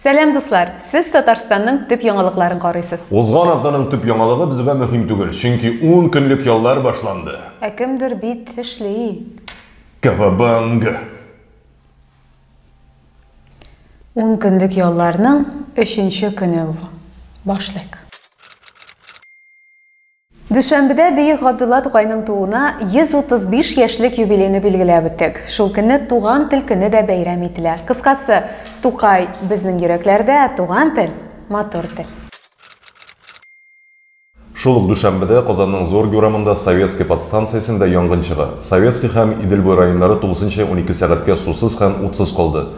Сәлам дуслар! Сез Татарстанның төп яңалыкларын карыйсыз. Узган атнаның төп яңалыгы безгә мөһим түгел, чөнки 10 көнлек яллар башланды. Ә кемдер бит эшли. Кавабанга! 10 көнлек ялларның өченче көне бу. Башлыйк. Дүшәмбедә бөек Габдулла Тукайның тууына 135 яшьлек юбилейны билгеләп үттек. Шул көнне Туган тел көне дә бәйрәм ителә. Кыскасы, Тукай, безнең йөрәкләрдә, туган тел, матур тел. Шул ук дүшәмбедә Казанның Зорге урамында Советский подстанциясендә янгын чыга. Советский һәм Идел буе районнары тулысынча унике сәгатькә сусыз һәм утсыз калды.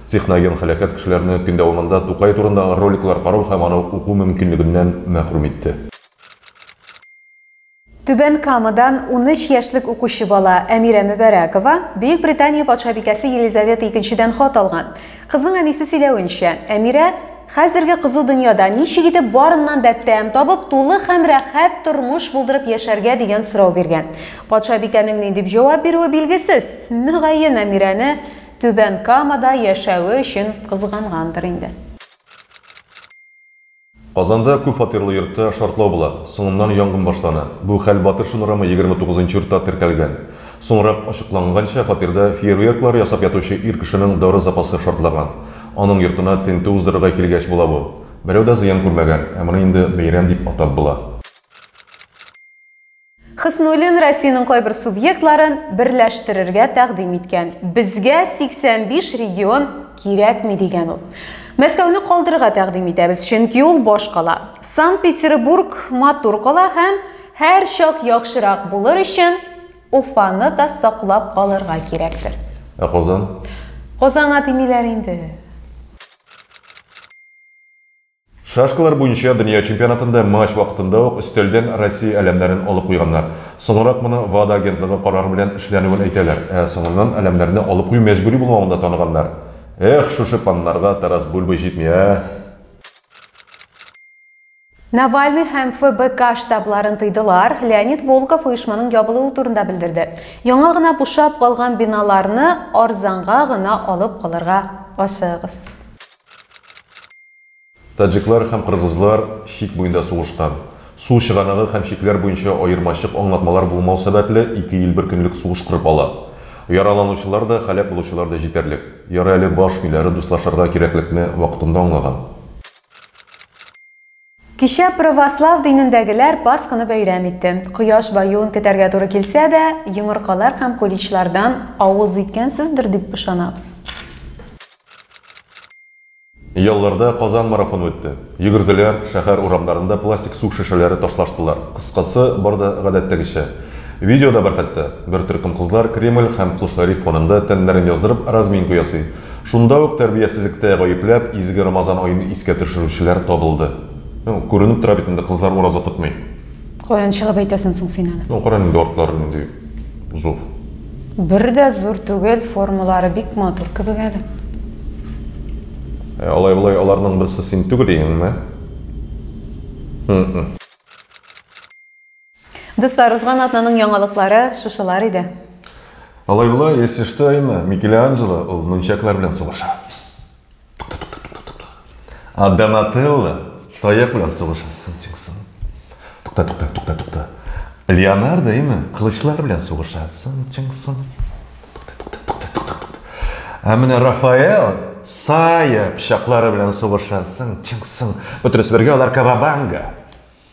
Техноген һәлакәт кешеләрне көн дәвамында Тукай турында роликлар карау һәм аны уку мөмкинлегеннән мәхрүм итте. Түбән Камадан 13 яшьлек укучы бала Әмирә Мөбәрәкова Бөек Британия патшабикәсе Елизавета II-дән хат алган. Кызның әнисе сөйләвенчә, Әмирә хәзерге кызу дөньяда ничек итеп барыннан да тәм табып, тулы һәм рәхәт тормыш булдырып яшәргә дигән сорау биргән. Патшабикәнең ни дип җавап бирүе билгесез. Мөгаен, Әмирәне Түбән Камада яшәве өчен кызгангандыр инде. Казанда күп фатирлы йортта шартлау була, соңыннан янгын башлана. Бу хәл Батыр Шунрама 29 нчы йортта теркәлгән. Соңрак ачыкланганча, фатирда фейерверклар ясап ятучы ир кешенең дары запасы шартлаган. Аның йортына тентү уздырырга килгәч була бу. Берәү дә зыян күрмәгән, ә моны инде бәйрәм дип атап була. Хөснуллин Россиянең кайбер субъектларын берләштерергә тәкъдим иткән. Безгә 85 регион кирәкми, дигән ул. Мәскәүне калдырырга тәкъдим итәбез, чөнки ул баш кала. Санкт-Петербург матур кала һәм һәрчак яхшырак булыр өчен Уфаны да саклап калырга кирәктер. Ә Казан? Казанга тимиләр инде. Шашкалар буенча дөнья чемпионатында матч вакытында ук өстәлдән Россия әләмнәрен алып куйганнар. Соңрак моны ВАДА агентлыгы карары белән эшләнүен әйтәләр. Ә соңыннан әләмнәрне алып кую мәҗбүри булмавын да таныганнар. Эх, шушы паннарга Тарас Бульба җитми, ә! Навальный һәм ФБК штабларын тыйдылар, Леонид Волков оешманың ябылуы турында белдерде. Яңа гына бушап калган биналарны арзанга гына алып калырга ашыгыгыз. Таҗиклар һәм кыргызлар чик буенда сугышкан. Су чыганагы һәм чикләр буенча аермачык аңлатмалар булмау сәбәпле, ике ил бер көнлек сугыш корып ала. Яраланучылар да, һәлак булучылар да җитәрлек. Ярый әле баш миләре дуслашырга кирәклекне вакытында аңлаган. Кичә православ динендәгеләр Пасханы бәйрәм итте. Кояш баюын көтәргә туры килсә дә, йомыркалар һәм куличлардан авыз иткәнсездер дип ышанабыз. Ялларда Казан марафоны үтте. Йөгерделәр, шәһәр урамнарында пластик су шешәләре ташлаштылар. Кыскасы, бар да гадәттәгечә. Видео да бар хәтта. Бер төркем кызлар Кремль һәм Кол Шәриф фонында тәннәрен яздырып, разминку ясый. Шунда ук тәрбиясезлектә гаепләп, изге Рамазан аен искә төшерүчеләр табылды. Ну, күренеп тора бит инде, кызлар ураза тотмый. Каян чыгып әйтәсең соң син аны? Ну, кара инде артлары нинди зур. Бер дә зур түгел, формалары бик матур кебек әле. Ә алай-болай аларның берсе син түгел иеңме? М-м. Дуслар, узган атнаның яңалыклары шушылар иде. Алай була, если что, Айна, Микеланджело ул нунчаклар белән сугыша. А Донателло таяк белән сугыша. Тукта, тукта, тукта, тукта. Леонардо именно кылычлар белән сугыша. Сын, чын, сын. Ә менә Рафаэл сая пычаклары белән сугыша. Сын, чын, сын. Бөтересбергә алар кавабанга.